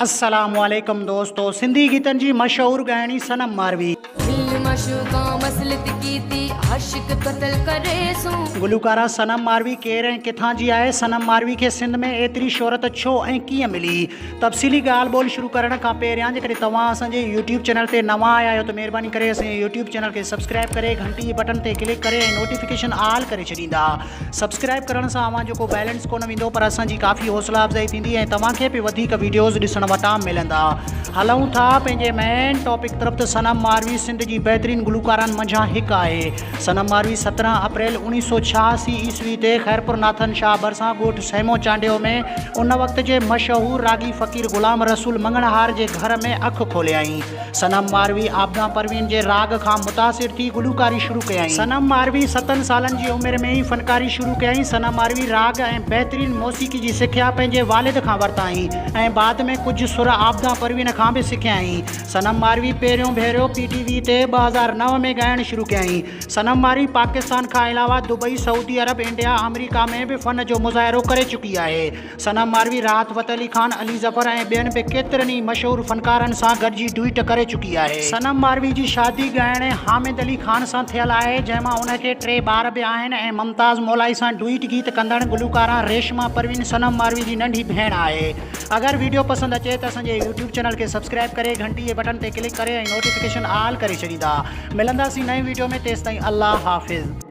السلام عليڪم دوستو سنڌي گيتن جي مشهور ڳائڻي صنم ماروي. دل معشوقان وصلت ڪيتي عاشق قتل ڪري سون. گلوڪارا صنم ماروي ڪير ۽ ڪٿان جي آهي؟ صنم ماروي کي سنڌ ۾ ايتري شهرت ڇو ۽ ڪيئن ملي؟ تفصيلي ڳالهه ٻولهه شروع ڪرڻ کان پهريان جيڪڏهن توهان اسان جي يوٽيوب چينل تي نوان آيا آهيو ته مهرباني ڪري اسان جي يوٽيوب چينل کي سبسڪرائب ڪري گهنٽي جي بٽڻ تي ڪلڪ ڪري ۽ نوٽيفڪيشن آل ڪري ڇڏيندا سبسڪرائب ڪرڻ سان اوهان جو ڪو بيلنس ڪونه ويندو پر اسان جي ڪافي حوصلا افزائي ٿيندي ۽ توهان کي به وڌيڪ ويڊيوز ڏسڻ وٽان ملندا هلون ٿا پنهنجي مين ٽاپڪ طرف ته صنم ماروي سنڌ جي بهترين گلوڪارن منجهان هڪ آهي صنم ماروي سترهن اپريل اوڻيهه سو ڇهاسي عيسوي تي خيرپور ناٿن شاهه ڀرسان ڳوٺ سيمو چانڊيو ۾ ان وقت جي مشهور راڳي فقير غلام رسول مڱڻهار جي گهر ۾ اک کوليائين صنم ماروي عابده پروين جي راڳ کان متاثر ٿي گلوڪاري شروع ڪيائين. صنم ماروي ستن سالن جي عمر ۾ ئي فنڪاري شروع ڪيائين. صنم ماروي راڳ ۽ بهترين موسيقي جي سکيا پنهنجي والد کان ورتائين ۽ بعد ۾ ڪجهه سر عابده پروين کان به سکيائين. صنم ماروي پهريون ڀيرو پي ٽي وي تي ٻه هزار نو ۾ ڳائڻ شروع ڪيائين. صنم ماروي پاڪستان کان علاوه دبئي، سعودي عرب، انڊيا، آمريڪا ۾ به فن جو مظاهرو ڪري چڪي آهي. صنم ماروي، راحت فتح علي خان، علي ظفر ۽ ٻين به ڪيترن ئي مشهور فنڪارن سان گڏجي ڊوئيٽ ڪري چڪي آهي. صنم ماروي جي شادي ڳائڻي حامد علي خان سان ٿيل آهي، جنهن مان ان کي ٽي ٻار به آهن ۽ ممتاز مولائي سان ڊوئيٽ گيت ڪندڙ گلوڪارا ريشما پروين صنم ماروي جي ننڍي ڀيڻ آهي. اگر وڊيو پسند اچي ته اسان جي يوٽيوب چينل کي سبسڪرائب ڪري گهنٽي جي بٽن تي ڪلڪ ڪري ۽ نوٽيفڪيشن آل ڪري ڇڏيندا. ملنداسين نئين وڊيو ۾ تيستائين الله حافظ.